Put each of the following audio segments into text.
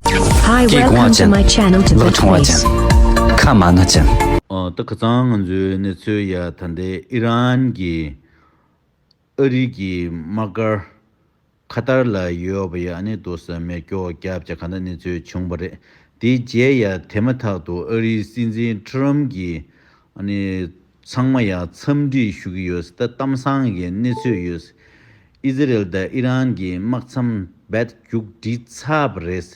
Hi welcome to my channel to the place ཁ་མ་ན་ཅན། ད་ཁ་ཚང་ང་ཚོའི་གནས་ཚུལ་ཡ་ད་འདི་ཨི་རན་གྱི་ཨ་རི་གྱི་དམག་སྒར་ཁ་ཏར་ལ་ཡོད་པ་ཡ་ནི་དུ་ས་མེ་སྐྱོ་སྐྱ་བྱ་ག་ན་གནས་ཚུལ་བྱུང་བ་རེད་དེའི་རྗེས་ཡ་དེ་མ་ཐག་ཏུ་ཨ་རིའི་སྲིད་འཛིན་ཁྲི་རམ་གྱིས། ཚང་མ་ཡང་འཚམས་འདྲི་ཞུ་གི་ཡོད། ད་གཏམ་བཟང་གི་གནས་ཚུལ་ཡོད། ཨི་ཛི་རེལ་དང་ཨི་རན་གྱི་དམག་མཚམས་རྦད་རྒྱུག་འདི་ཚབ་རེད།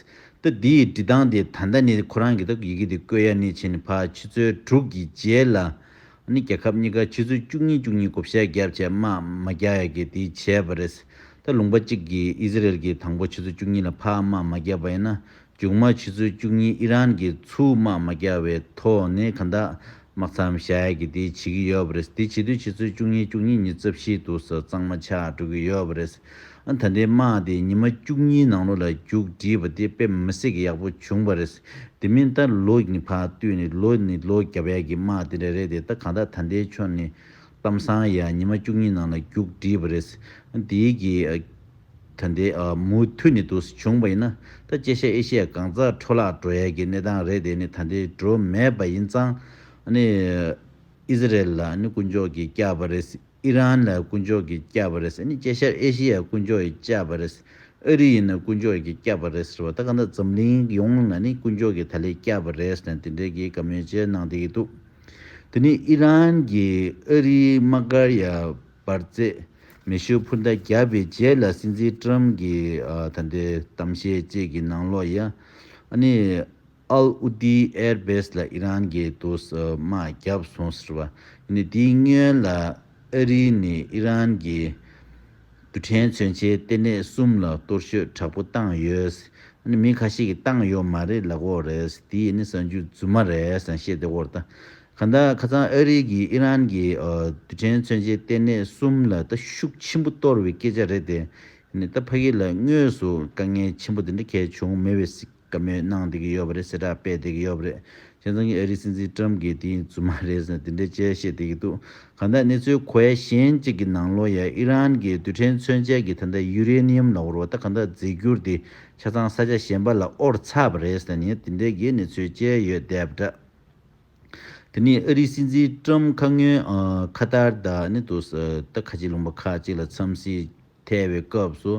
ད་འདིའི་འབྲི་སྟངས་དེ་ད་ལྟ་ནི་ཁོ་རང་གི་ད་ཡི་གེ་དེ་བཀོད་ཡ་ནི་བྱས་ནི་ཕ་ཕྱི་ཚོལ་དྲུག་གི་རྗེས་ལ། རྒྱལ་ཁབ་གཉིས་ཀ་ཕྱི་ཚོལ་བཅུ་གཉིས་བཅུ་གཉིས་བགོ་བཤའ་བརྒྱབ་བྱས་དམག་མ་རྒྱག་ཡ་གི་དེ་བྱས་པ་རེད། ད་ལུང་པ་གཅིག་གིས་ཨི་ཛི་རེལ་གྱི་དང་པོ་ཕྱི་ཚོལ་བཅུ་གཉིས་ལ་ཕ་དམག་མ་རྒྱབ་པ་ཡིན་ན་རྒྱུགས་མ་ཕྱི་ཚུལ་བཅུ་གཉིས་ཨི་རན་གྱི་ཚུལ་དམག་མ་རྒྱག་བའི་ཐོག་ནས་གང་དག་དམག་འཚམ་བཞག་ཡ་གི་དེ་བྱེད་ཀྱི་ཡོད་པ་རེད་དེ་བྱེད་དུས་ཕྱི་ཚུལ་བཅུ་གཉིས་བཅུ་གཉིས་ཉིན་རྩ་བཞིའི་དུག་ས་གཙང་མ་ཆགས་འགྲོ་གི་ཡོད་པ་རེད། ད་ལྟའི་དམག་དེ་ཉི་མ་བཅུ་གཉིས་ནང་ལོ་ལ་རྒྱུགས་བྲིས་པ་དེ་དཔེ་མི་སྲིད་ཀྱི་ཡག་པོ་བྱུང་བ་རེད། དེ་མིན་ད་ལོ་གྱི་ཕག་བཏུས་ནི་ལོ་ནི་ལོ་བརྒྱ་པ་ཡ་གི་དམག་དེ་འདྲ་རེད་དེ་ད་གང་དག་ད་ལྟའི་ཆོ་ནི་གཏམ་བཟང་ཡ་ཉི་མ་བཅུ་གཉིས་ནང་ལ་རྒྱུགས་བྲིས་པ་རེད། དེའི་གི། ད་ནི་མུ་མཐུད་ནས་འདུག་བྱུང་བ་ཡིན་ན། ད་སྐྱེ་ཤ་ཨེ་ཤེས་གང་ཙག་འཕྲོ་བརླག་འགྲོ་ཡས་ཀྱི་གནས་སྟངས་རེད་དེ་ནི་ད་ལྟའི་འགྲོ་མེད་པ་ཡིན་ཙང། ནི། ཨི་ཟི་རལ་ལ་ནི་དཀོན་མཆོག་གིས་བསྐྱབས་པ་རེད། ཨི་རན་ལ་དཀོན་མཆོག་གིས་བསྐྱབས་པ་རེད། ནི་སྐྱེ་ཤ་ཨེ་ཤེ་ཡ་དཀོན་མཆོག་གིས་བསྐྱབས་པ་རེད། ཨ་རི་ཡིན་ན་དཀོན་མཆོག་གིས་བསྐྱབས་པ་རེད་ཟེར་བ་ད་ག་འདྲ་འཛམ་གླིང་ཡོངས་ལ་ནི་དཀོན་མཆོག་གིས་ད་ལས་བསྐྱབས་པ་རེད་ནི་དེ་འདྲའི་གི་ག་མོས་བྱས་གནང་བསྡད་ཀྱི་འདུག། འདི་ནི་ཨི་རན་གྱིས་ཨ་རིའི་དམག་སྒར་ཡར་སྦར་རྩེད་མེ་ཤོད་འཕུར་མདའ་བརྒྱབ་པའི་རྗེས་ལ་སྲིད་འཛིན་ཀྲུམ་གྱི་ད་ལྟའི་གཏམ་བཤད་བཅས་ཀྱི་ནང་ལོགས་ཡ་ཨ་ནི་ཨལ་ཨུ་ཏི་ཨེར་བེས་ལ་ཨི་རན་གྱིས་དུ་སྨྲ་བརྒྱབ་སོང་ཟེར་བ་ཡིན་ནས་དེའི་སྔོན་ལ། ཨ་རིའི་ནས་ཨི་རན་གྱི་རྡུལ་ཕྲན་མཚོན་ཆའི་ལྟེ་གནས་གསུམ་ལ་གཏོར་ཤོད་དྲག་པོ་བཏང་ཡོད། མི་ཁ་ཤས་ཀྱིས་བཏང་ཡོད་མ་རེད་ལབ་འོག་རེད་དེ་ནི་གསར་འགྱུར་རྫུན་མ་རེད་བཤད་དེ་འོར་ད་ག་ད་ཁ་ཚང་ཨ་རིའི་གྱི་ཨི་རན་གྱི་རྡུལ་ཕྲན་མཚོན་ཆའི་ལྟེ་གནས་གསུམ་ལ་ད་ཤུགས་ཆེན་པོ་གཏོར་བའི་སྐད་ཆ་རེད་དེ་ནི་ད་ཕ་གི་ལ་དངོས་སུ་དཀའ་ངལ་ཆེན་པོ་དེ་འདྲ་གལ་བྱུང་མེད་བས་བཀའ་མོལ་གནང་བསྡད་ཀྱི་ཡོད་པ་རེད་གསལ་བསྒྲགས་སྤེལ་བསྡད་ཀྱི་ཡོད་པ་རེད། ཁྱེད་ཚང་གི་ཨ་རིའི་སྲིད་འཛིན་ཀྲམ་དགེ་དེའི་རྫུན་མ་རེད་ཟེར་ནས་དེ་འདྲའི་དཔྱད་བཤད་བསྡད་ཀྱི་འདུག་གང་ལྟར་གནས་ཚུལ་གོ་ཡ་གཞན་གཅིག་གི་ནང་ལོ་ཡ་ཨི་རན་གྱི་རྡུལ་ཕྲན་མཚོན་ཆས་ཀྱི་ད་ལྟ་ཡུ་རེ་ནི་ཡུམ་ལ་བོར་བ་ད་གང་ལྟར་རྫས་འགྱུར་དེ་ཆ་ཚང་ས་ཆ་གཞན་པ་ལ་དབོར་ཚར་བ་རེད་ཟེར་ནས་དེ་འདྲའི་གི་གནས་ཚུལ་བཅས་ཡོད་བསྡད་པ་འདྲ། དེ་ནི་ཨ་རིའི་སྲིད་འཛིན་ཀྲམ་ཁ་སྔོན་ཁ་ཏར་ད་ནི་དུ་ས་ད་ཁ་ཆེ་ལུང་པ་ཁག་ཅིག་ལ་འཚམས་གཟིགས། ཐལ་བའི་སྐབས་སུ་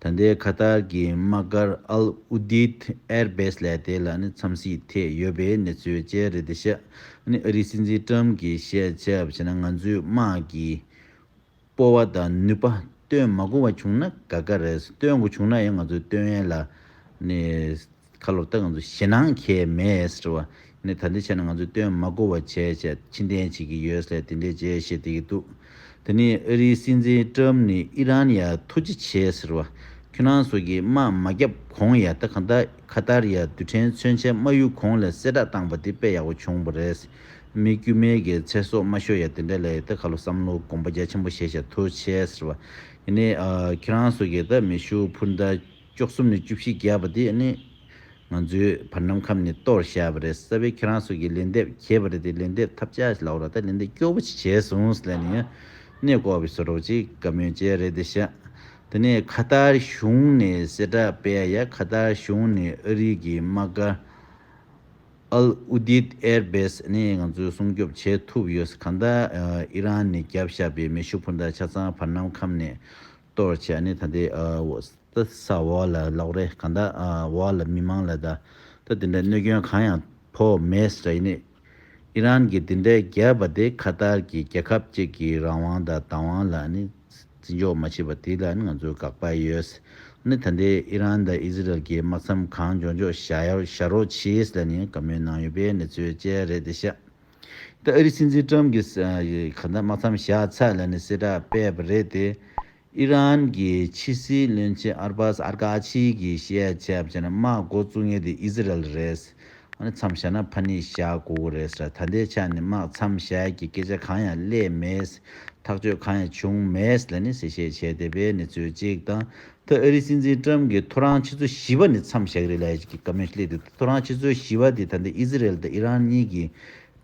ད་ལྟའི་ཁ་ཐར་གྱི་དམག་སྒར་ཨལ་ཨུ་དཱིད་ཨེར་བེས་ལས་དེ་ལ་ནི་འཚམས་གཟིགས་ཐད་ཡོད་པའི་གནས་ཚུལ་བཅས་རེད་འདི་ཤག་ཨ་རིའི་སྲིད་འཛིན་ཀྲམ་གྱིས་བཤད་ཆབ་བྱས་ན་ང་ཚོའི་དམག་གི་སྤོ་བ་དང་ནུས་པ་སྟོན་མ་དགོས་བ་བྱུང་ན་དགའ་དགའ་རེད་སྟོན་དགོས་བྱུང་ན་ཡང་ང་ཚོའི་སྟོན་ཡན་ལ་ནི་ཁ་ལོ་བཏགས་ང་ཚོ་ཞེད་སྣང་མཁས་མེད་ཟེར་བ་ནི་ད་འདི་ཆ་ནས་ང་ཚོས་སྟོན་མ་གོ་བ་བྱས་བྱས་ཕྱི་འཐེན་བྱེད་ཀྱི་ཡོད་སའི་དེ་འདྲའི་བྱས་བྱས་དེ་གི་འདུག་དེ་ནི་ཨ་རིའི་སྲིད་འཛིན་ཀྲམ་ནི་ཨི་རན་ཡ་ཐུགས་རྗེ་ཆེ་ཟེར་བ་ཁྱོད་རང་ཚོ་གིས་དམག་མ་བརྒྱབ་གོང་ཡ་ད་ག་འདའ་ཁ་ཏར་ཡ་རྡུལ་ཕྲན་མཚོན་ཆའི་དམག་ཡུལ་གོང་ལས་གསལ་བསྒྲགས་བཏང་པ་དེ་དཔེ་ཡག་པོ་བྱུང་པ་རེད་མི་དཀྱུས་མའི་གི་ཚེ་སྲོག་མ་ཤོར་ཡ་དེ་འདྲ་ལས་ཡ་ད་ག་ལོ་བསམ་བློ་གོམ་པ་རྒྱ་ཆེན་པོ་བྱས་བྱས་ཐུགས་ཆེ་ཟེར་བ་ནི་ཨ་ཁྱོད་རང་ཚོ་གིས་ད་མེ་ཤུགས་འཕུར་མདའ་བཅུ་གསུམ་ནས་བཅུ་བཞི་བརྒྱབ་པ་དེ་ནི་ང་ཚོའི་བར་ནམ་མཁའམ་ནས་གཏོར་བཤགས་པ་རེད་གསལ་བས་ཁྱེད་རང་ཚོ་གིས་ལན་འདེབས་གྱེས་པ་རེད་དེ་ལན་འདེབས་ཐབས་ཆག་ལ་འོ་ར་ད་ལན་འདེབས་སྐྱོ་བོ་ཅིག་བྱས་སོང་ཟེར་ལན་ཡང་གནས་སྐོར་བའི་ཟོ་རོག་ཅིག་དགའ་མོས་བཅས་རེད་དེ་ཤག་དེ་ནས་ཁ་ཏར་གཞུང་ནས་གསལ་བསྒྲགས་སྤེལ་ཡ་ཁ་ཏར་གཞུང་ནས་ཨ་རིག་གི་དམག་སྒར Al Udeid Air Base ནས་ང་ཚོ་སྲུང་སྐྱོབ་བྱས་ཐུབ་ཡོད་གང་ལྟར་ཨི་རན་ནས་བརྒྱབ་བཞག་པའི་མེ་ཤུགས་འཕུར་མདའ་ཆ་ཚང་བར་ནམ་མཁའམ་ནས་གཏོར་བར་བྱས་ནས་ད་དེ་ད་ས་འོག་ལ་ལོག་རེ་གང་ད་འོག་ལ་མི་མང་ལ་ད་ད་དེ་འདྲ་གནོད་སྐྱོན་གང་ཡང་ཕོག་མེད་ཟེར་ཡིན། ཨི་རན་གྱི་དེ་འདྲའི་རྒྱལ་བ་དེ་ཁ་ཏར་གྱི་རྒྱལ་ཁབ་ཅིག་གི་རང་དབང་ད་ད་དབང་ལ་ནི་བརྩི་འཇོག་མ་བྱེད་པ་དེ་ལ་ནི་ང་ཚོ་དགག་པ་ཡོད། ནི་ད་འདི་ཨི་རན་ད་ཨི་ཟི་རལ་གྱི་དམག་མཚམས་གང་འཇོག་འཇོག་བྱ་རོགས་བྱས་ལ་ནི་བཀའ་མོལ་གནང་ཡོད་པའི་གནས་ཚུལ་བཅས་རེད་དེ་ཤ་ད་ཨ་རི་སྲིད་འཛིན་ཀྲམ་གྱིས་ག་ད་མ་འཚམས་བཞག་ཚར་ལ་ནི་གསལ་བསྒྲགས་སྤེལ་བ་རེད་དེ། ཨི་རན་གྱི་ཕྱི་སྲིད་བློན་ཆེན་ཨར་པཱ་སི་ཨར་ཀ་ཆི་གིས་བཤད་ཆ་བྱས་ན་དམག་མགོ་བཙུགས་ངེས་དེ་ཨི་ཟི་རལ་རེད། ཨ་རི་འཚམས་བཞག་ན་ཕ་ནི་བཞག་དགོས་གི་རེད་ཟེར། ད་ལྟའི་ཆ་ནི་དམག་འཚམས་བཞག་གི་སྐད་ཆ་གང་ཡང་གླེད་མེད། ཐག་གཅོད་གང་ཡང་བྱུང་མེད་ལ་ནི་གསལ་བཤད་བྱས་བསྡད་པའི་ནི་ཚོད་ཅིག་དང་ད་ཨ་རིའི་སྲིད་འཛིན་ཀྲམ་གྱིས་ཐོ་རངས་ཕྱི་ཚོ་བཞི་བ་ནི་མཚམས་བཞག་རེད་ལ་ཨ་ཞི་ཀི་ཀ་མོས་སླེབས་ཏེ་ཐོ་རངས་ཕྱི་ཚོ་བཞི་བ་དེ་ད་ལྟ་ཨི་ཟི་རལ་དང་ཨི་རན་གཉིས་ཀྱི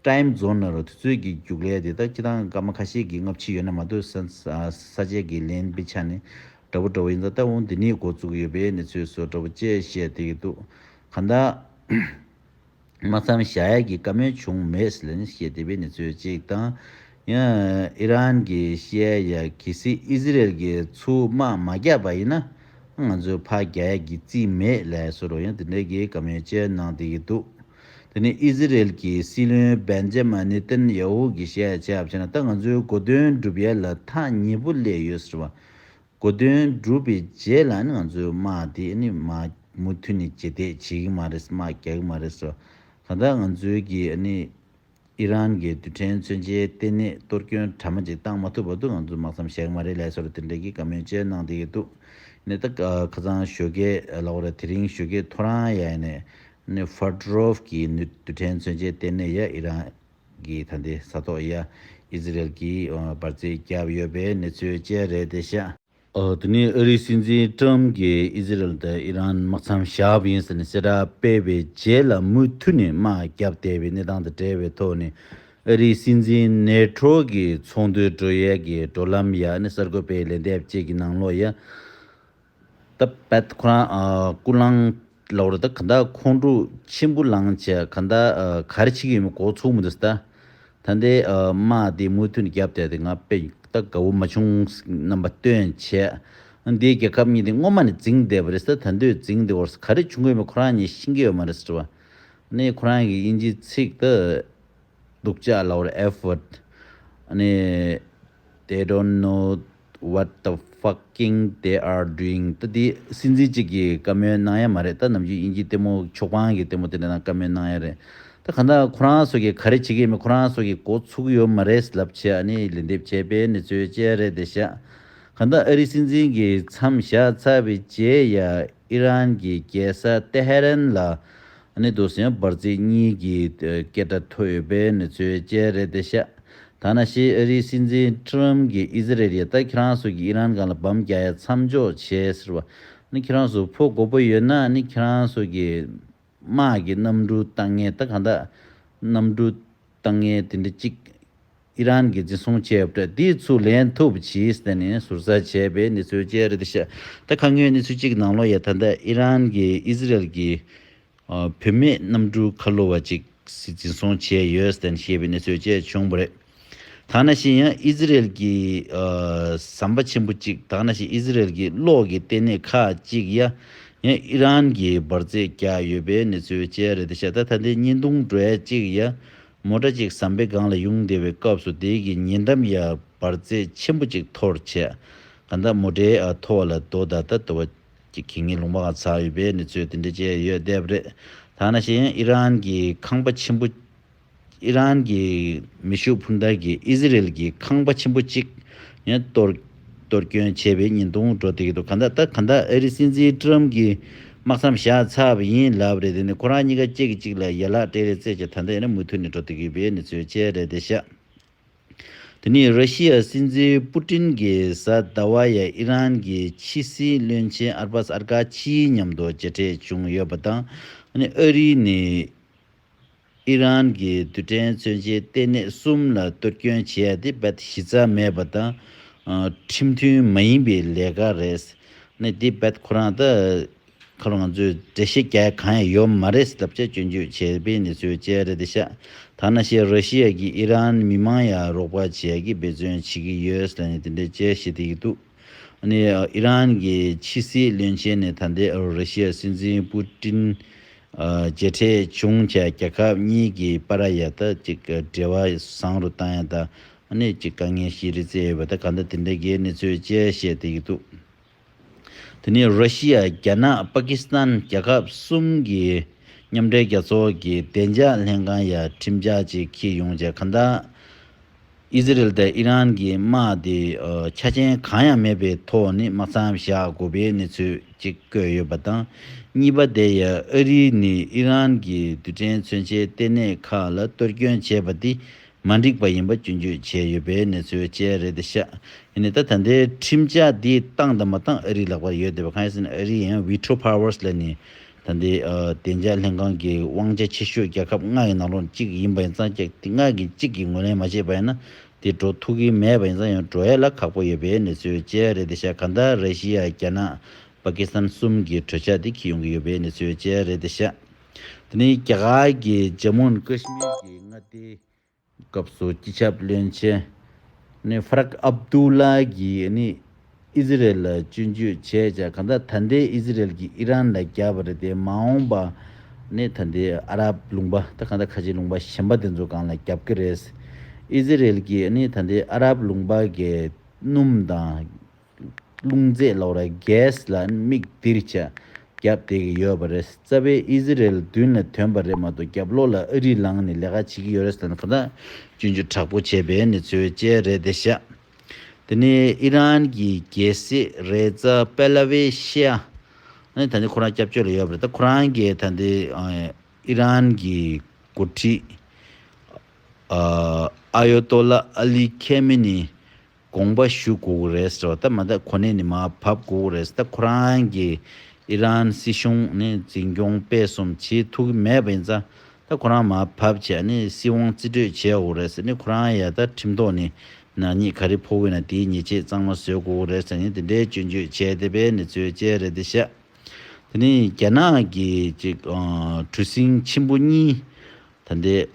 Time Zone རུ་དུས་ཚོད་ཀྱི་རྒྱུགས་ལས་དེ་ད་སྤྱི་དང་སྐར་མ་ཁ་ཤས་ཀྱི་སྔ་ཕྱི་ཡོད་ན་མ་གཏོགས་ས་བཅད་ཀྱི་ལན་པའི་ཆ་ནས་འདྲ་བོ་འདྲ་བོ་ཡིན་ད་ལྟ་འོང་དེ་ནས་འགོ་བཙུགས་ཡོད་པའི་གནས་ཚུལ་སོགས་འདྲ་བོ་བཅས་བཤད་དེ་ཡོད་འདུག་ག་ད། དམག་མཚམས་བཞག་ཡས་ཀྱི་བཀའ་མོལ་བྱུང་མེད་ཟི་ལན་ཤེས་ལྡེ་པི་ནི་ཚོད་ཅིག་དང། ཨི་རན་གྱི་ཤེས་ཡས་ཀྱི་སི་ཨི་ཟི་རེལ་གྱི་ཚུལ་དམག་མ་བརྒྱབ་པ་ཡིན་ན། ང་ཚོའི་ཕ་བརྒྱ་ཡས་ཀྱི་རྩིས་མེད་ལས་སོ་རོ་ཡང་དེ་འདྲའི་གི་བཀའ་མོལ་ཅེས་གནང་དེ་གི་འདུག་དེ་ནི་ཨི་ཟི་རེལ་གྱི་སྲིད་བློན་བན་ཇེ་མ་ནི་ཏན་ཡ་ཧུ་གི་ཤེས་ཡས་བྱས་པ་བྱས་ན་ད་ང་ཚོའི་གོ་དོན་འགྲུབ་ཡས་ལ་ཐག་ཉེ་པོ་སླེ་ཡོད་ཟེར་བ་གོ་དོན་བསྒྲུབས་པའི་རྗེས་ལ་ནི་ང་ཚོས་དམག་དེ་ནི་མ་མུ་མཐུད་ནས་ཇེ་དེད་བྱེད་ཀྱི་མ་རེད་དམག་རྒྱག་གི་མ་རེད་སོ། གང་ལྟར་ང་ཚོའི་གིས་ནི་ཨི་རན་གྱི་རྡུལ་ཕྲན་མཚོན་ཆའི་ལྟེ་གནས་གཏོར་སྐྱོན་གྲ་མ་ཅིག་བཏང་མ་ཐུབ་བར་དུ་ང་ཚོས་དམག་མཚམས་བཞག་གི་མ་རེད་ལས་སོར་དེ་འབྲེལ་གྱི་བཀའ་མོལ་བཅས་གནང་བསྡད་ཀྱི་འདུག་ནས་ད་ཁ་སང་ཞོ་ཀེ་ལ་བོ་ར་དེ་རིང་ཞོ་ཀེ་ཐོ་རངས་ཡ་ནས་ནི Ferdorov གྱི་རྡུལ་ཕྲན་མཚོན་ཆའི་ལྟེ་གནས་ཡ་ཨི་རན་གིས་ད་ལྟའི་ས་ཐོག་ཡ་ཨི་ཟི་རེལ་གྱིས་འབར་རྫས་བརྒྱབ་ཡོད་པའི་གནས་ཚུལ་བཅས་རེད་དེ་བཤད། འདི་ནི་ཨ་རིའི་སྲིད་འཛིན་ཀྲོམ་གྱིས་ཨི་ཟི་རེལ་དང་ཨི་རན་དམག་མཚམས་བཞག་ཡིན་ཟེར་ནས་གསལ་བསྒྲགས་སྤེལ་བའི་རྗེས་ལ་མུ་མཐུད་ནས་དམག་བརྒྱབ་བསྡད་པའི་གནས་སྟངས་དང་འབྲེལ་བའི་ཐོག་ནས་ཨ་རིའི་སྲིད་འཛིན་ནེ་ཁྲོ་གི་ཚོགས་འདུའི་བགྲོ་གཡས་ཀྱི་འགྲོ་ལམ་ཡ་ཨི་ནི་གསར་འགོད་པའི་ལན་འདེབས་བཅས་ཀྱི་ནང་ལོ་ཡ་ད་བད་ཁོ་རང་སྐུ་ལང་ལ་བོར་ད་ག་ད་ཁོང་ཁྲོ་ཆེན་པོ་ལང་བྱས་ག་ད་གར་ཕྱི་གི་ཡོད་མེད་གོ་ཚུགས་མི་འདུག་ད་ད་འདི་མ་དེ་མུ་མཐུད་ནས་རྒྱབ་བསྟད་དེ་ང་བད་ད་དགའ་བོ་མ་བྱུང་རྣམ་པ་སྟོན་བྱས་འདི་རྒྱལ་ཁབ་གཉིས་དེ་སྔོན་མ་ནས་འཛིང་བསྡད་པ་རེད་ད་ད་འདོད་འཛིང་དེ་བོར་ག་རེ་བྱུང་གི་ཡོད་མེད་ཁོ་རང་གཉིས་ཤེས་ཀྱི་ཡོད་མ་རེད་དྲི་བ་ནི་ཁོ་རང་གི་དབྱིན་ཇིའི་ཚིག་ད་སྡུག་ཅག་ལ་བོར effort ནི they don't know What the fucking they are doing ད་དེ་སྲིད་འཛིན་གཅིག་གིས་བཀའ་མོལ་གནང་ཡ་མ་རེད་ད་ནམ་རྒྱུན་དབྱིན་ཇིའི་ལྟད་མོ་ཕྱོགས་པང་གི་ལྟད་མོ་དེ་འདྲ་ནང་བཀའ་མོལ་གནང་ཡ་རེད་ད་གང་ལྟར་ཁོ་རང་ཚོ་གིས་ག་རེ་བྱེད་ཀྱི་ཡོད་མེད་ཁོ་རང་ཚོ་གིས་འགོ་ཚུགས་ཀྱི་ཡོད་མ་རེད་ལབ་བྱས་ཨ་ནི་ལན་འདེབས་བྱས་པའི་གནས་ཚུལ་བཅས་རེད་དེ་བཞག་གང་ལྟར་ཨ་རིའི་སྲིད་འཛིན་གྱིས་མཚམས་བཞག་ཚར་བའི་རྗེས་ཡ་ཨི་རན་གྱི་རྒྱལ་ས་ཏེ་ཧེ་རན་ལ་ནི་དུ་སེང་འབར་རྩིས་གཉིས་ཀྱི་སྐད་སྒྲ་ཐོས་ཡོད་པའི་གནས་ཚུལ་བཅས་རེད་དེ་ཤ་ད་ན་ཤི་ཨ་རིའི་སྲིད་འཛིན་ཁྲི་རམ་གྱིས་ཨི་ཟི་རེལ་ཡ་ད་ཁྱེད་རང་སུ་གྱིས་ཨི་རན་གང་ལ་བམ་རྒྱག་ཡ་མཚམས་འཇོག་བྱེད་ཟེར་བ་ནི་ཁྱེད་རང་སུ་ཕོ་མགོ་པོ་ཡོད་ན་ནི་ཁྱེད་རང་སུ་གྱིས་དམག་གི་གནམ་གྲུ་བཏང་ངེས་ད་གང་ད་གནམ་གྲུ་བཏང་ངེས་དེ་འདྲ་གཅིག་ཨི་རན་གྱི་འཛིན་བཟུང་བྱས་པ་དེ་ཚུར་ལེན་ཐུབ་ཕྱིས་དེ་ནི་ཟུར་ཟ་བྱས་པའི་གནས་ཚུལ་བཅས་རེད་བཤད། ད་ག་ངོས་གནས་ཚུལ་གཅིག་ནང་ལོ་ཡ་ད་ལྟ་ཨི་རན་གྱིས་ཨི་ཟི་རལ་གྱི་བུད་མེད་གནམ་གྲུའི་ཁ་ལོ་བ་གཅིག་འཛིན་བཟུང་བྱས་ཡོད་དེ་ཞེས་པའི་གནས་ཚུལ་བཅས་བྱུང་བ་རེད། ད་ན་ཞིག་ཡང་ཨི་ཟི་རལ་གྱི་ཟམ་པ་ཆེན་པོ་གཅིག་ད་ན་ཞིག་ཨི་ཟི་རལ་གྱི་གློག་གི་ལྟེ་གནས་ཁག་གཅིག་ཡ་ཡང་ཨི་རན་གྱིས་འབར་རྫས་བརྒྱག་ཡོད་པའི་གནས་ཚུལ་བཅས་རེད་བཤད། ད་ད་ལྟའི་བརྙན་ཐུང་བྲོ་བྱ་གཅིག་ཡ་མོ་སྐྲ་གཅིག་ཟམ་པའི་སྒང་ལ་དབྱུང་བདེ་བའི་སྐབས་སུ་དེའི་གི་ཉེ་འགྲམ་ཡར་འབར་རྩེ་ཆེན་པོ་ཅིག་འཐོར་བྱས། གང་ལྟར་མོ་སྐྲའི་ཨ་མཐོ་བ་ལ་རྡོ་ད་ལྟ་དོ་བ་ཅིག་གིས་ངའི་ལུང་པའང་ཚ་ཡོད་པས་ནི་ཚོས་དེ་འདྲ་བྱས་ཡོད་བསྡད་རེད། ཐ་ན་གཞན་ཡང་ཨི་རན་གྱི་ཁང་པ་ཆེན་པོ། ཨི་རན་གྱི་མེ་ཤུགས་འཕུར་མདའ་གིས་ཨི་ཟི་རེལ་གྱི་ཁང་པ་ཆེན་པོ་གཅིག་ཡང་གཏོར། གཏོར་སྐྱོན་བྱས་པའི་ཉིན་དང་གྲོ་སྟེགས་དུ་ག་འདའ་ད་ག་འདའ་ཨ་རི་སྲིད་འཛིན་ཀྲུའམ་གྱི་དམག་མཚམས་བཞག་ཚབ་ཡིན་ལབ་རེད་དེ་ནི་ཁོ་རང་གཉིས་ཀ་གཅིག་གིས་གཅིག་ལ་ཡན་ལག་སྤྲད་རེད་རྩེད་ཆ་ད་འདའ་ཡིན་ན་མུ་མཐུད་ནས་འགྲོ་ཐུབ་ཀྱི་པའི་ནི་ཚོད་བཅད་རེད་དེ་ཤག་དེ་ནི་ར་ཤི་ཡ་སྲིད་འཛིན་པུ་ཏིན་གྱི་གཟའ་ཟླ་བ་ཡ་ཨི་རན་གྱི་ཕྱི་སྲིད་བློན་ཆེན་ཨར་པཱས་ཨར་ཀ་ཆིའི་མཉམ་དུ་མཇལ་འཕྲད་བྱུང་ཡོད་པ་དང་ཨ་རིའི་ནི། ཨི་རན་གྱིས་རྡུལ་ཕྲན་མཚོན་ཆའི་ལྟེ་གནས་གསུམ་ལ་གཏོར་སྐྱོན་བྱས་ཡ་དེ་རྦད་དེ་གཞི་རྩ་མེད་པ་དང། ཁྲིམས་མཐུན་མ་ཡིན་པའི་ལས་ཀ་རེད། ནི་དེ་རྦད་ཁོ་རང་ད་ཁ་ལོ་ང་ཚོས་འགྲེལ་བཤད་རྒྱག་ཡ་གང་ཡང་ཡོད་མ་རེད་ཟེར་ལབ་བྱ་སྐྱོན་བརྗོད་བྱས་པའི་གནས་ཚུལ་བཅས་རེད་དེ་ཤ་ཐ་ན་བཤད་རོ་ཤི་ཡ་གིས་ཨི་རན་མི་མང་ཡ་རོགས་པ་བྱས་ཡ་གིས་འབད་བརྩོན་བྱེད་གི་ཡོད་ཟེར་ནས་དེ་འདྲའི་བཅས་བཤད་དེ་ཡི་འདུག། ནི་ཨི་རན་གྱི་ཕྱི་སྲིད་བློན་ཆེན་ནས་ད་ལྟའི་རི་ཤི་ཡའི་སྲིད་འཛིན་པུ་ཏྲིན། མཇལ་འཕྲད་བྱུང་བྱས་རྒྱལ་ཁབ་གཉིས་ཀྱི་པ་ར་ཡ་ད་ཅིག་འབྲེལ་བ་བཟང་རུ་བཏང་ཡ་ད་ནི་ཅིག་དཀའ་ངལ་ཞིག་རེད་བརྩད་ཡོད་པ་ད་ག་ད་དེ་འདྲའི་གའི་གནས་ཚུལ་བཅས་བཤད་བསྡད་ཡོད་འདུག་དེ་ནི་རི་ཤི་ཡ་རྒྱ་ནག་པ་ཀི་སི་ཐན་རྒྱལ་ཁབ་གསུམ་གྱི་མཉམ་འབྲེལ་རྒྱལ་ཚོགས་ཀྱི་བདེ་འཇགས་ལྷན་ཁང་ཡ་ཁྲིམས་འཇགས་ཅིག་ཁྱི་ཡོང་བྱས་ག་ད། ཨི་ཟི་རེལ་དང་ཨི་རན་གྱི་དམག་དེ་ཆ་རྐྱེན་གང་ཡང་མེད་པའི་ཐོག་ནས་དམག་འཚམ་བཞག་དགོས་པའི་གནས་ཚུལ་གཅིག་བཀོད་ཡོད་པ་དང། གཉིས་པ་དེ་ཡང་ཨ་རི་ནས་ཨི་རན་གྱི་རྡུལ་ཕྲན་མཚོན་ཆའི་ལྟེ་གནས་ཁག་ལ་གཏོར་སྐྱོན་བྱས་པ་དེ་མ་འགྲིག་པ་ཡིན་པ་སྐྱོན་བརྗོད་བྱས་ཡོད་པའི་གནས་ཚུལ་བཅས་རེད་དེ་ཤག་ཨི་ནས་ད་ད་ལྟའི་ཁྲིམས་འཆར་དེ་བཏང་དང་མ་བཏང་ཨ་རིའི་ལག་པར་ཡོད་དེ་བ་ཁ་ཡེ་སི་ནས་ཨ་རི་ཡང་བྷི་ཐྲོ་ཕཱ་ཝར་སི་ལ་ནས་ད་ལྟའི་བདེ་འཇགས་ལྷན་ཁང་གི་དབང་ཆ་ཆེ་ཤོས་རྒྱལ་ཁབ་ལྔ་ཡི་ནང་ལོགས་གཅིག་ཡིན་པ་ཡིན་ཙང་རྒྱ་དེ་ལྔ་གི་གཅིག་གིས་ངོས་ལེན་མ་བྱས་པ་ཡིན་ན་དེ་འགྲོ་ཐུག་གི་མེད་པ་ཡིན་ཙང་ཡང་འགྲོ་ཡ་ལ་ཁག་པོ་ཡོད་པའི་གནས་ཚུལ་བཅས་རེད་དེ་ཤ་ག་འདའ་ར་ཤི་ཡ་རྒྱ་ནག་པ་ཀི་སཱན་གསུམ་གི་གྲོས་འཆར་དེ་ཁྱི་ཡོང་གི་ཡོད་པའི་གནས་ཚུལ་བཅས་རེད་དེ་ཤ་དེ་ནི་རྒྱ་གར་གྱི་ཇམ་མུ་ཨན་ཀི་ཤི་མིར་གྱི་མངའ་སྡེའི་སྐབས་སུ་སྤྱི་ཁྱབ་བློན་ཆེན་ནི་ཧྥ་རག་ཨབ་ཏུའུ་ལ་གྱིས་ནི་ཨི་ཟི་རེལ་ལ་སྤྱོད་འཇུག་བྱས་ཀྱང་གང་ལྟར་ད་ལྟའི་ཨི་ཟི་རེལ་གྱིས་ཨི་རན་ལ་རྒྱབ་པ་རེད་དེ་མ་འོངས་པ་ནི་ད་ལྟའི་ཨ་རབ་ལུང་པ་དང་གང་ལྟར་ཁ་ཆེའི་ལུང་པ་གཞན་པ་དེ་ཚོ་གང་ལ་རྒྱབ་ཀྱི་རེད། ཨི་ཟི་རེལ་གྱིས་ནི་ད་ལྟའི་ཨ་རབ་ལུང་པ་གའི་སྣུམ་དང་རླུང་རྫས་ལོག་ར Gas ལ་མིག་སྡིར་ཆ་བརྒྱབ་བསྡད་ཀྱི་ཡོད་པ་རེད་རྩ་བའི་ཨི་ཟི་རེལ་མདུན་ལ་དོན་པ་རེད་མ་གཏོགས་རྒྱབ་ལོག་ལ་ཨ་རི་ལངས་ནས་ལས་ཀ་བྱེད་ཀྱི་ཡོད་རེད་ཟེར་ན་ཁོ་ན་སྐྱོན་བརྗོད་དྲག་པོ་བྱས་པའི་ནི་ཚོའི་དཔྱད་རེད་དེ་ཤ་དེ་ནི་ཨི་རན་གྱི་རྒྱལ་སྲིད་རེད་རྩ་པེ་ལ་བའི་ཤ་ནི་ད་ནི་ཁོ་རང་སྐྱབས་བཅོལ་ལ་ཡོད་པ་རེད་ད་ཁོ་རང་གིས་ད་འདི་ཨི་རན་གྱི་འགོ་ཁྲིད་ཨ་ཡོ་ཏོ་ལ་ཨ་ལི་ཁེ་མེ་ནི་དགོངས་པ་ཞུ་དགོས་ཀྱི་རེད་ཟེར་བ་ལྟར་མ་ལྟ་ཁོ་ནའི་ནི་མ་བབས་དགོས་ཀྱི་རེད་ཟེར་ལྟ་ཁོ་རང་གིས་ཨི་རན་སྲིད་གཞུང་ནི་འཛིན་སྐྱོང་སྤེལ་གསུམ་བྱེད་ཐུབ་ཀྱི་མེད་པ་ཡིན་ཙང་ད་ཁོ་རང་མ་བབས་ཆད་ནི་སྲིད་དབང་རྩིས་སྤྲོད་བྱེད་དགོས་ཀྱི་རེད་ཟེར་ནི་ཁོ་རང་ཡ་ད་ཁྲིམས་ཐོག་ནི་ནག་ཉེས་ག་རེ་ཕོག་ཡོད་ན་དེའི་ཉེས་ཆད་གཙང་མ་བཟོས་དགོས་ཀྱི་རེད་ཟེར་ནི་དེ་འདྲའི་སྐྱོན་བརྗོད་བྱས་བསྡད་པའི་ནི་ཚོའི་དཔྱད་རེད་དེ་བཤད། དེ་ནི་རྒྱ་ནག་གི་གྲུ་གཟིངས་ཆེན་པོ་གཉིས་ད་ལྟའི།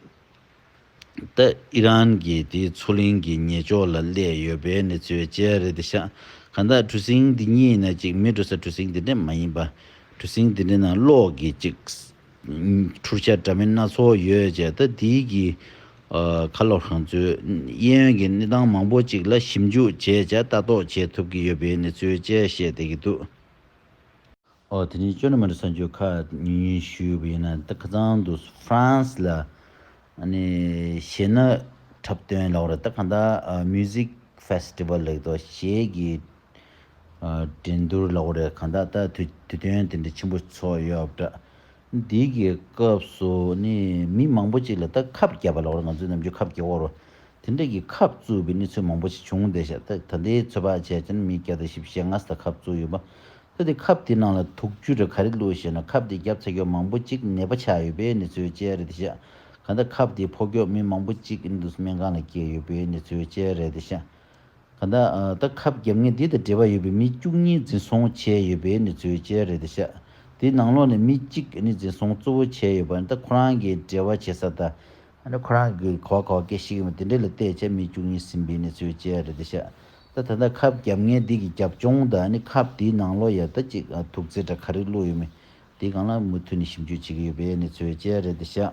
ཏི་ཨི་རན་གྱི་དེའི་མཚོ་གླིང་གི་ཉེ་ཕྱོགས་ལ་བསླད་ཡོད་པའི་གནས་ཚུལ་བཅས་རེད་དེ་ཤག་ག་ད་གྲུ་གཟིངས་འདི་གཉིས་ནས་ཅིག་མི་གྲུ་ས་གྲུ་གཟིངས་འདི་འདྲས་མ་ཡིན་པ་གྲུ་གཟིངས་འདི་འདྲས་ནང་གློག་གི་ཅིག་འཕྲུར་ཤ་འདྲ་མིན་སྣ་ཚོགས་ཡོད་ཅེས་ཏི་ཏི་ཨི་གི་ཁ་ལོ་ཧྲང་ཚུའི་གཡས་གཡོན་གྱི་གནས་སྟངས་མང་པོ་ཅིག་ལ་ཞིབ་འཇུག་བྱས་ཅེས་ལྟ་རྟོག་བྱེད་ཐུབ་ཀྱི་ཡོད་པའི་གནས་ཚུལ་བཅས་བཤད་བསྡད་ཀྱི་འདུག། ཨོ་དེ་ནས་ཅོ་ནེ་མོ་ནི་གསར་འབྱོར་ཁག་ཉུང་ཉུང་ཞིག་ཡོད་པ་ཡིན་ན་ད་ཁ་ཚང་དུ France ལ་ཞེད་ན་འཁྲབ་སྟོན་ལགས་རེད་ད་གང་ལྟར Music Festival ལེགས་ཏོ་ཞེས་ཀྱི་འགྲན་བསྡུར་ལགས་རེད་གང་ལྟར་ད་དུས་སྟོན་དེ་འདྲ་ཆེན་པོ་ཚོགས་ཡོད་པ་འདྲ་འདི་གི་སྐབས་སུ་ནི་མི་མང་པོ་ཅིག་ལ་ད་ཁབ་བརྒྱབ་པ་ལགས་རེད་ང་ཚོའི་ནམ་རྒྱུན་ཁབ་བརྒྱབ་བོར་བ་དེ་འདྲ་གི་ཁབ་བཙུགས་པའི་ནི་ཚོད་མང་པོ་ཅིག་བྱུང་བསྡད་ཤག་ད་ད་ལྟའི་ཚོད་དཔག་བྱས་ཙང་མི་བརྒྱ་དང་བཞི་བཞི་ལྔ་ས་ཁབ་བཙུགས་ཡོད་པ་ཚོ་དེ་ཁབ་དེ་ནང་ལ་དུག་བཅུ་དྲུག་ག་རེ་བླུགས་ཤེ་ན་ཁབ་དེ་བརྒྱབ་ཚ་གྱོ་མང་པོ་གཅིག་ནད་པ་ཆགས་ཡོད་པའི་གནས་ཚུལ་བཅས་རེད་ཤ་ག་ད་ཁབ་དེ་ཕོ་གྱོ་མི་མང་པོ་གཅིག་ཨིན་དུ་སྨན་ཁང་ལ་སྐྱེལ་ཡོད་པའི་གནས་ཚུལ་བཅས་རེད་ཤ་ག་ད་ད་ཁབ་བརྒྱབ་ངན་དེ་དང་འབྲེལ་བ་ཡོད་པའི་མི་བཅུ་གཉིས་འཛིན་བཟུང་བྱས་ཡོད་པའི་གནས་ཚུལ་བཅས་རེད་ཤ་དེ་ནང་ལོགས་ནས་མི་གཅིག་ཨིན་འཛིན་བཟུང་གཙོ་བོ་བྱས་ཡོད་པ་ད་ཁོ་རང་གི་འབྲེལ་བ་བྱེད་ས་ད་ཁོ་རང་གི་གོ་བ་གོ་བ་སྐད་ཤིག་གིས་མ་དེ་འདྲེ་ལ་བལྟས་བྱས་མི་བཅུ་གཉིས་ཟིན་པའི་གནས་ཚུལ་བཅས་རེད་ཤ་ད་ད་ད་ཁབ་རྒྱབ་ངའི་སྡིག་གི་རྒྱབ་ལྗོངས་ད་ནི་ཁབ་འདིའི་ནང་ལོ་ཡར་ད་ཅིག་དུག་རྫས་འདྲ་ག་རིགས་བླུགས་ཡོད་མེད་དེ་གང་ལ་མུ་མཐུད་ནས་ཞིབ་འཇུག་བྱེད་ཀྱི་ཡོད་པའི་གནས་ཚུལ་བཅས་རེད་འདི་ཤག་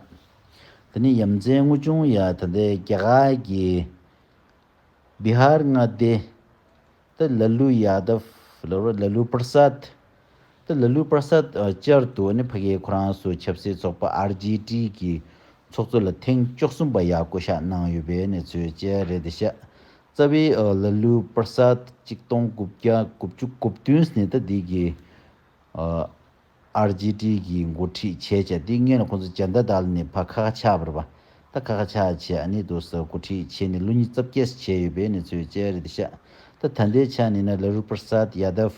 ད་ནི་ཡ་མཚན་དངོས་བྱུང་ཡ་ད་ད་རྒྱ་གར་གྱི་བི་ཧར་མངའ་སྡེ་ད་ལ་ལུ་ཡ་ད་བྷ་ལ་ལུ་པར་སཱད་ད་ལ་ལུ་པར་སཱད་བཅར་དུ་ནི་ཕ་གིའི་ཁོ་རང་སུ་ཆབ་སྲིད་ཚོགས་པ་ཨར་ཇི་ཏི་གི་ཚོགས་གཙོ་ལ་ཐེངས་བཅུ་གསུམ་པ་ཡ་བསྐོ་བཞག་གནང་ཡོད་པའི་གནས་ཚུལ་བཅས་རེད་འདི་ཤག་རྩ་བའི་ཨོ་ལ་ལུ་པར་སཱད་གཅིག་སྟོང་དགུ་བརྒྱ་དགུ་བཅུ་དགུ་བདུན་ཟནི་ད་དིག་གི་ཨར་ཇི་ཏི་གི་འགོ་ཁྲིད་བྱས་བྱས་ཏི་ངན་ལ་ཁོང་ཚོ་འཇར་འདའ་དལ་ནི་བ་ཁ་ཁ་ཆག་བར་བ་ད་ཁ་ཁ་ཆག་བྱས་ཨ་ནི་དུ་ས་འགོ་ཁྲིད་བྱས་ནི་ལུ་ཉི་རྩ་བརྒྱད་ས་བྱས་ཡོད་པའི་ནི་ཚོས་བཅས་རེད་ཤ་ད་ད་འདའི་ཆ་ནི་ན་ལ་རུ་པར་སཱད་ཡ་དབ་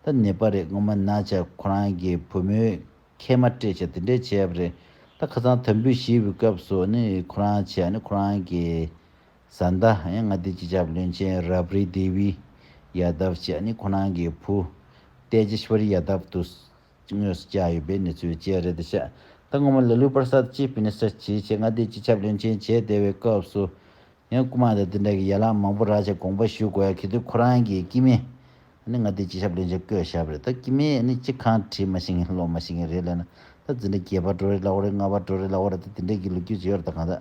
ད་ནི་པ་རེད་ངོ་མ་ན་ཆ་ཁོ་རང་གི་བུ་མོའི་ཁལ་མ་སྤྲད་བྱས་དེ་འདྲས་བྱས་བ་རེད་ད་ཁ་ཚང་དམ་འབུད་ཞི་བའི་སྐབས་སུ་ཨ་ནི་ཁོ་རང་བྱས་ཨ་ནི་ཁོ་རང་གི་བཟའ་ཟླ་ཡང་མངའ་སྡེ་སྤྱི་ཁྱབ་བློན་ཆེན་རབ་རི་དེ་བི་ཡཱདབ་བཅས་ནི་ཁོ་རང་གི་བུ་ཏའེ་ཇེ་ཤཱི་བ་རི་ཡཱདབ་ཏུ་དངོས་སུ་བཅར་ཡོད་པའི་གནས་ཚུལ་བཅས་རེད། ད་སྔོན་མ་ལེལུ་པར་སཱད་ཅིབ་མི་ནི་སི་ཆི་ཆེད་མངའ་སྡེའི་སྤྱི་ཁྱབ་བློན་ཆེན་བྱས་བསྡད་པའི་སྐབས་སུ་ཡང་སྐུ་དམངས་དང་དེ་འདྲ་གི་ཡ་ལང་མང་པོ་རག་ཅིང་དགོངས་པ་ཞུ་དགོས་ཡ་གི་དུས་ཁོ་རང་གི་སྐྱིད་མེད་ནི་མངའ་སྡེའི་སྤྱི་ཁྱབ་བློན་ཆེན་བསྐོས་ཞབས་རེད་ད་སྐྱིད་མེད་ནི་སྤྱི་ཁང་བྲིས་མ་ཤེས་མཁན་སློབ་མ་ཤེས་མཁན་རེད་ལན་ན་ད་འཛིན་གྲྭ་བརྒྱད་པ་འགྲོ་རེ་ལ་བོ་རེ་ལྔ་བ་འགྲོ་རེ་ལ་བོ་རེ་ད་དེ་འདྲ་གི་ལོ་རྒྱུས་བརྗོད་ཡོད་རེད་ད་གང་ཟག་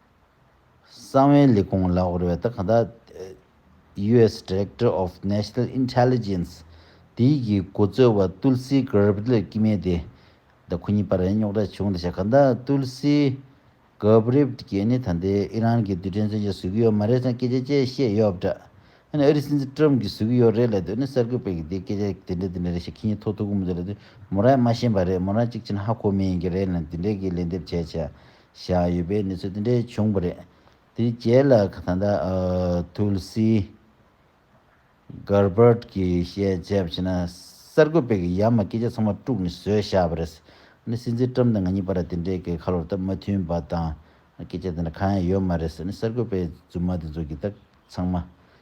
གསང་བའི་ལས་ཁུངས་ལ་འོར་བའི་ད་ག་ཟླ US Director of National Intelligence དེའི་གི་གོ་ཙོལ་བ་ཏུལ་སི་གྷརབ་ལ་ཀི་མེ་དེ་ད་ཁོ་གཉིས་པ་རེད་རྙོག་དྲ་བྱུང་ད་ཆ་ག་ད་ཏུལ་སི་གྷརབ་གི་ནི་ད་འདི་ཨི་རན་གི་རྡུལ་ཕྲན་མཚོན་ཆ་བཟོས་གི་ཡོད་མ་རེད་སང་སྐད་ཆ་བཅས་བཤད་ཡོད་པ་འདྲ་ཨ་ནི་ཨ་རི་སྲིད་འཛིན་ཏྲོམ་གི་བཟོས་གི་ཡོད་རེད་ལབ་དུས་ཨ་ནི་གསར་འགོད་པས་གི་འདི་སྐད་ཆ་དེ་འདྲ་དེ་འདྲ་རེད་ཞེས་ཁྱི་གཉིས་ཐོ་ཐུག་གི་མི་འདུག་ལབ་དུས་མོ་རང་ཡང་མ་ཤེས་པ་རེད་མོ་རང་གཅིག་ཆེན་ཧ་གོ་མིན་གི་རེད་ལ་འདི་འདྲའི་གི་ལན་འདེབས་བྱས་བྱས། བཞག་ཡོད་པའི་གནས་ཚུལ་དེ་འདྲའི་བྱུང་བ་རེད། དེའི་རྗེས་ལ་ད་ལྟ Tulsi Gabbard གྱིས་བཤད་རྒྱ་བྱས་ན་གསར་འགོད་པས་ཡ་མ་སྐད་ཆ་ཚང་མ་དཀྲུགས་ནས་བཟོས་བཞག་པ་རེད། སྲིད་འཛིན Trump དང་ང་གཉིས་བར་དེ་འདྲའི་གས་ཁ་ལོ་རྟ་མ་མཐུན་པ་དང་སྐད་ཆ་དེ་འདྲ་གང་ཡང་ཡོད་མ་རེད། གསར་འགོད་པས་རྫུན་མ་དེ་ཚོ་གི་དག་ཚང་མ